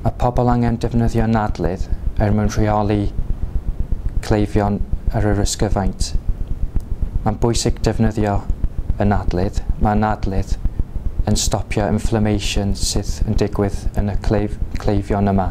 Mae pobl angen defnyddio nadledd er mwyn rheoli cleifion ar yr ysgyfaint. Mae'n bwysig defnyddio y nadledd. Mae nadledd yn stopio inflammation sydd yn digwydd yn y cleifion yma.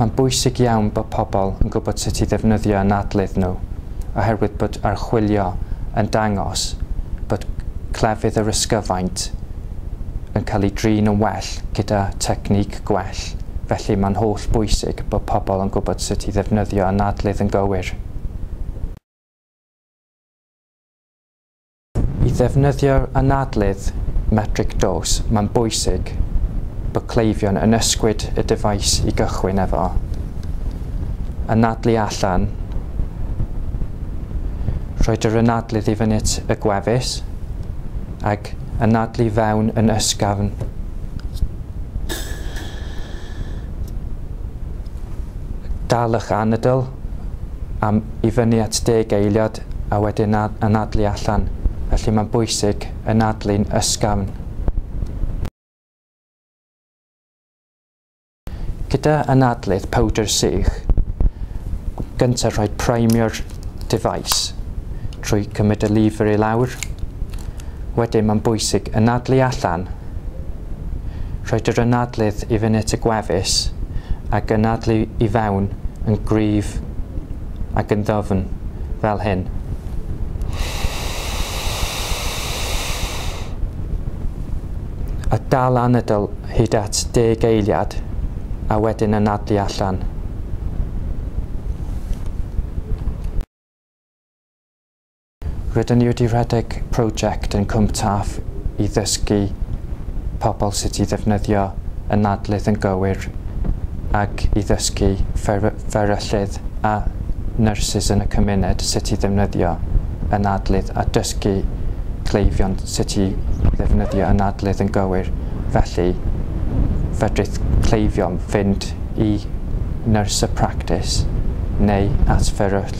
Mae'n bwysig iawn bod pobl yn gwybod sut i ddefnyddio anadlydd nhw oherwydd bod archwilio yn dangos bod clefyd yr ysgyfaint yn cael ei drin yn well gyda technique gwell, felly mae'n holl bwysig bod pobl yn gwybod sut i ddefnyddio anadlydd yn gywir. I ddefnyddio'r anadlydd metric dos, mae'n bwysig bod cleifion yn ysgwyd y dyfais i gychwyn efo, anadlu allan, rhoi yr anadlydd i fynyt y gwefus, ac anadlu fewn yn ysgafn. Dal eich anadl am i fyny at deg eiliad a wedyn anadlu allan, felly mae'n bwysig anadlu'n ysgafn. Gyda anadlydd powdr sych, gyntaf rhaid primio'r device trwy cymryd y lever i lawr, wedyn mae'n bwysig anadlu allan, Rhaid yr anadlydd i fyny at y gwefus ac anadlu i fewn yn gryf ac yn ddwfn, fel hyn. A dal anadl hyd at deg eiliad a wedyn anadlu allan. Rydyn ni wedi rhedeg prosiect yn Cwm Taf i ddysgu pobl sut i ddefnyddio y nadlith yn gywir ac i ddysgu fferyllydd a nyrsys yn y cymuned sut i ddefnyddio y nadlith a dysgu cleifion sut i ddefnyddio y nadlith yn gywir felly fedrith cleifion fynd i nyrs y practis neu at fferyll